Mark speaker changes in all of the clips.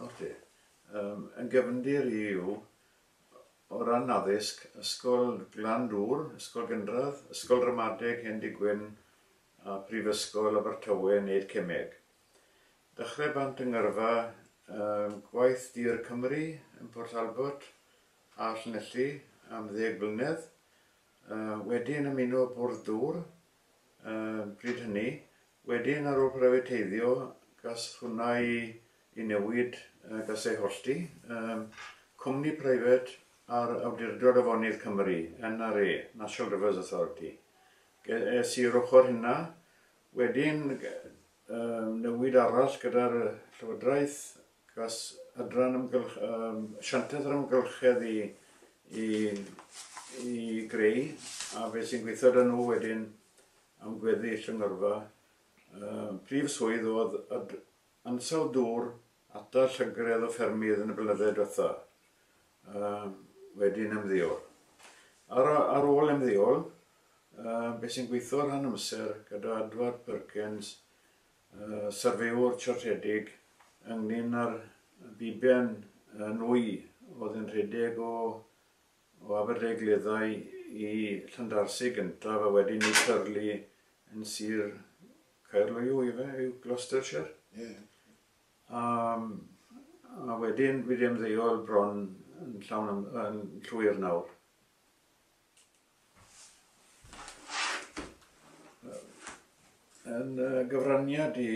Speaker 1: Oce. Yym, yn gefndir i yw, o ran addysg, Ysgol Glan Dŵr, Ysgol Gynradd, Ysgol Ramadeg Hendy Gwyn a Prifysgol Abertawe wneud cemeg. Dechrau bant yng ngyrfa um, gwaith Dir Cymru yn Port Talbot a Llanelli am ddeg blynedd, uh, wedyn ymuno Bwrdd Dŵr, Bryd hynny, wedyn ar ôl prifateiddio, gall hwnna i newid, gall e hollti. Cwmni preifat ar Awdurdod Afonydd Cymru, NRA, National Rivers Authority. Ges i'r ochr hynna, wedyn newid arall gyda'r Llywodraeth Gall adran amgylch, um, asiantaeth yr amgylchedd i, i, i greu a beth sy'n gweithio da nhw wedyn am gweddi llynyrfa. Uh, prif swydd oedd ad, ansawdd dŵr atal llygredd o ffermydd yn y blynydde diwetha. Uh, wedyn ymddeol. Ar, ar ôl ymddeol, uh, beth sy'n gweithio rhan amser gyda Adward Perkins y syrfeywr trosedig ynglŷn â'r ddiben nwy oedd yn rhedeg o o Aberdaugleddau i Llandarcy gyntaf a wedyn i Purley yn sir Caerloyw ife yw Gloucestershire? Ie. A a wedyn fi ddim ddeuol bron yn llawn yn llwyr nawr. Yn y gyfraniad i,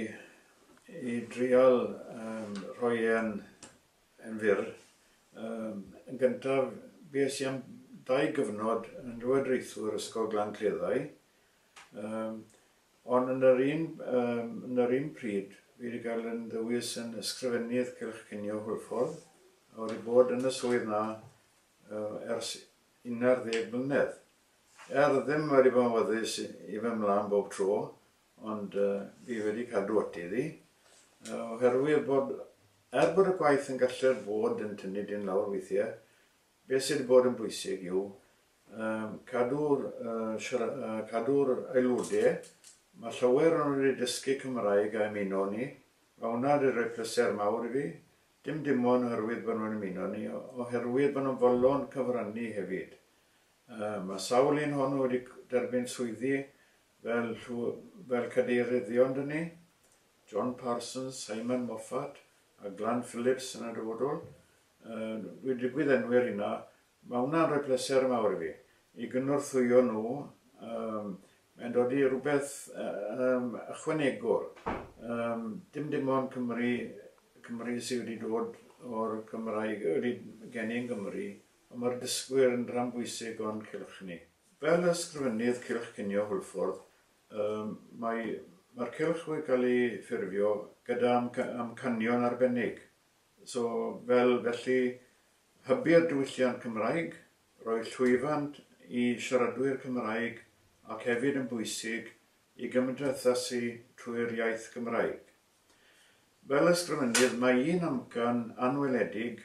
Speaker 1: i drial um, rhoi e'n yn fyr, um, yn gyntaf bues i am dau gyfnod yn Llywodraethwr Ysgol Glan Cleddau, um, ond yn yr un, um, yn yr un pryd fi wedi cael yn ddewis yn Ysgrifennydd Cylch Cinio Hwlffordd, a wedi bod yn y swydd na uh, ers 11 mlynedd. Er ddim wedi bod yn wyddus i fy mlan bob tro, ond fi wedi cadw ati iddi, oherwydd bod, er bod y gwaith yn gallu'r fod yn tynnu dyn lawr weithiau, beth sydd wedi bod yn bwysig yw cadw'r cadw'r aelodau, mae llawer o'n nhw wedi dysgu Cymraeg a ymuno ni, mae hwnna wedi rhoi pleser mawr i fi, Dim dim ond oherwydd bod nhw'n ymuno â ni, oherwydd bod nhw'n fodlon cyfrannu hefyd. Mae sawl un ohonyn nhw wedi derbyn swyddi fel fel cadeiryddion 'da ni, John Parsons, Simon Moffat a Glan Phillips yn y dyfodol. Dwi 'di gwydd-enwi'r rheina Mae hwnna'n rhoi pleser mawr i fi, i gynorthwyo nhw, yym, mae'n dod i rhywbeth yym, ychwanegol, yym, dim dim ond Cymru, Cymru sydd wedi dod o'r Cymraeg, wedi geni yn Gymru, ond mae'r dysgwyr yn rhan bwysig o'n cylch ni. Fel Ysgrifennydd Cylch Cinio Hwlffordd, yym, mae, mae'r cylch wedi cael ei ffurfio gyda amcanion arbennig, so, fel, felly, Hybu'r diwylliant Cymraeg, rhoi llwyfan i siaradwyr Cymraeg ac hefyd yn bwysig i gymdeithasu trwy'r iaith Gymraeg. Fel ysgrifennydd mae un amcan anweledig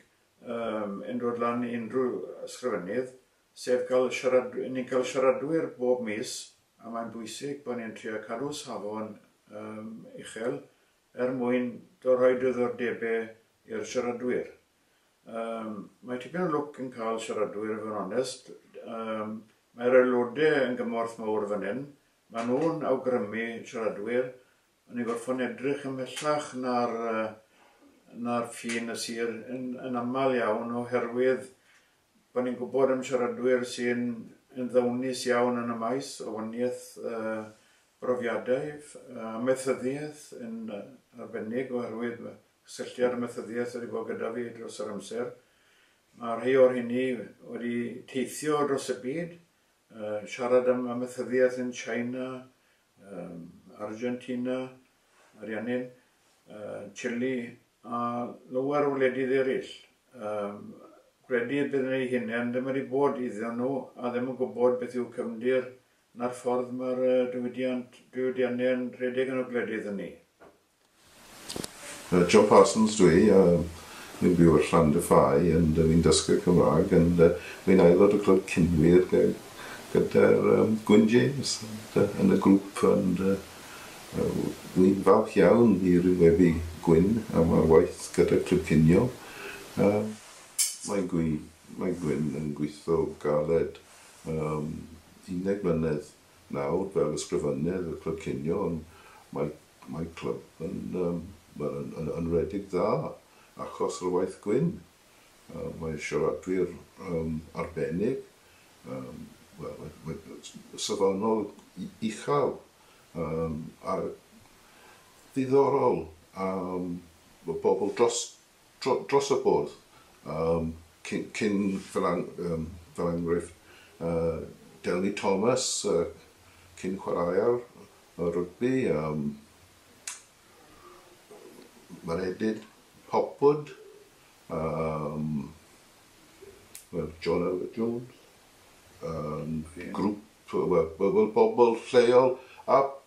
Speaker 1: yn dod lan i unrhyw ysgrifennydd sef cael siarad... ni'n cael siaradwyr bob mis a mae'n bwysig bod ni'n trio cadw safon uchel er mwyn rhoi diddordebau i'r siaradwyr. Yym, mae tipyn o lwc yn cael siaradwyr i fod yn onest. Yym, mae'r aelodau yn gymorth mawr fan hyn. Mae nhw'n awgrymu siaradwyr, a ni'n gorfod edrych ymhellach na'r, uh, na'r ffin y sir yn, yn aml iawn oherwydd bod ni'n gwybod am siaradwyr sy'n yn ddawnus iawn yn y maes o waniaeth uh, brofiadau, uh, amaethyddiaeth yn arbennig oherwydd cysylltiad amaethyddiaeth wedi bod gyda fi dros yr amser. Mae rhai o'r hynny wedi teithio dros y byd, uh, siarad am amaethyddiaeth yn China, um, Argentina, Ariannin, uh, Chile a lower o wledydd eraill. Um, credu y bydd ei hunain ddim wedi bod iddyn nhw a ddim yn gwybod beth yw cefndir na'r ffordd mae'r diwydiant, diwydiannau'n rhedeg yn y gwledydd hynny.
Speaker 2: John Parsons dw i, a wi'n byw ar Llandyfai and fi'n dysgwr Cymraeg and wi'n aelod o Clwb Cynwir gyda'r Gwyn James yn y grŵp and wi'n falch iawn i ryngwebu Gwyn am ar waith gyda Clwb Cinio a mae Gwyn yn gweithio galed am undeg mlynedd nawr fel ysgrifennydd y Clwb Cinio ond mae Mae clwb yn wel yn yn yn redeg dda achos yr waith gwyn. Yy mae siaradwyr yym arbennig yym wel mae mae yy safonol u- uchel yym a diddorol a yym bo- bobl dros dros y bwrdd cyn fel enghraifft Delny Thomas cyn chwaraewr rygbi, Maredudd Hopwood, John Elwyn Jones, grŵp, wel, bobl lleol a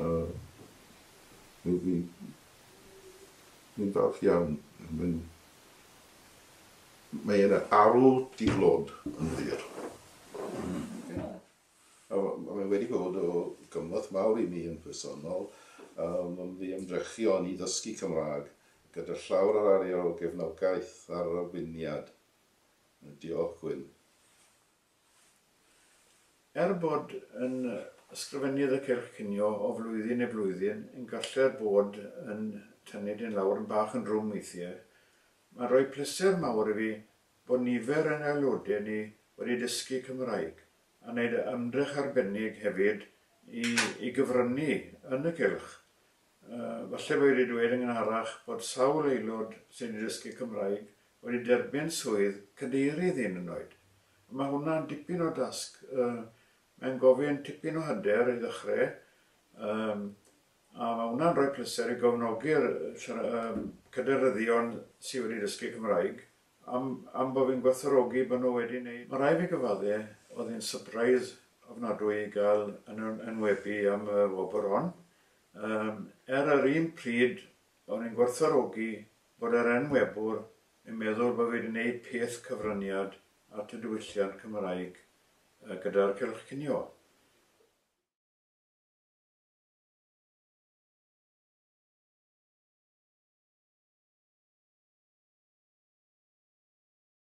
Speaker 2: A mi mi mi'n falch iawn. Mae'n mae yna arw di-glod yn wir. A mae wedi bod o gymorth mawr i mi yn personol a mae'n fy ymdrechion i ddysgu Cymraeg gyda llawr yr arian o gefnogaeth a'r arweiniad. Diolch Gwyn.
Speaker 1: Er bod yn Ysgrifennydd y Cylch Cinio o flwyddyn i flwyddyn yn gallu'r bod yn tynnu dyn lawr yn bach yn drwm weithiau, mae'n rhoi pleser mawr i fi bod nifer yn aelodau ni wedi dysgu Cymraeg a wneud ymdrech arbennig hefyd i i gyfrynnu yn y Cylch Falle bo' fi 'di dweud yn gynharach bod sawl aelod sy' 'di dysgu Cymraeg wedi derbyn swydd cadeirydd hyd yn oed. A ma' hwnna'n dipyn o dasg. Mae'n gofyn tipyn o hyder i ddechre, yym, a ma' hwnna'n rhoi pleser i gofnodi'r siara- yym cadeiryddion sy' wedi dysgu Cymraeg am am bo' fi'n gwerthfawrogi bo' nhw wedi neud. Ma' rai' fi gyfadde, o'dd hi'n sypreis ofnadwy i ga'l yn yn enwebu am y wobr hon. Yym, er yr un pryd, o'n i'n gwerthfawrogi bod yr enwebwr yn meddwl bo' fi 'di neud peth cyfraniad at y diwylliant Cymraeg yy gyda'r cylch cinio.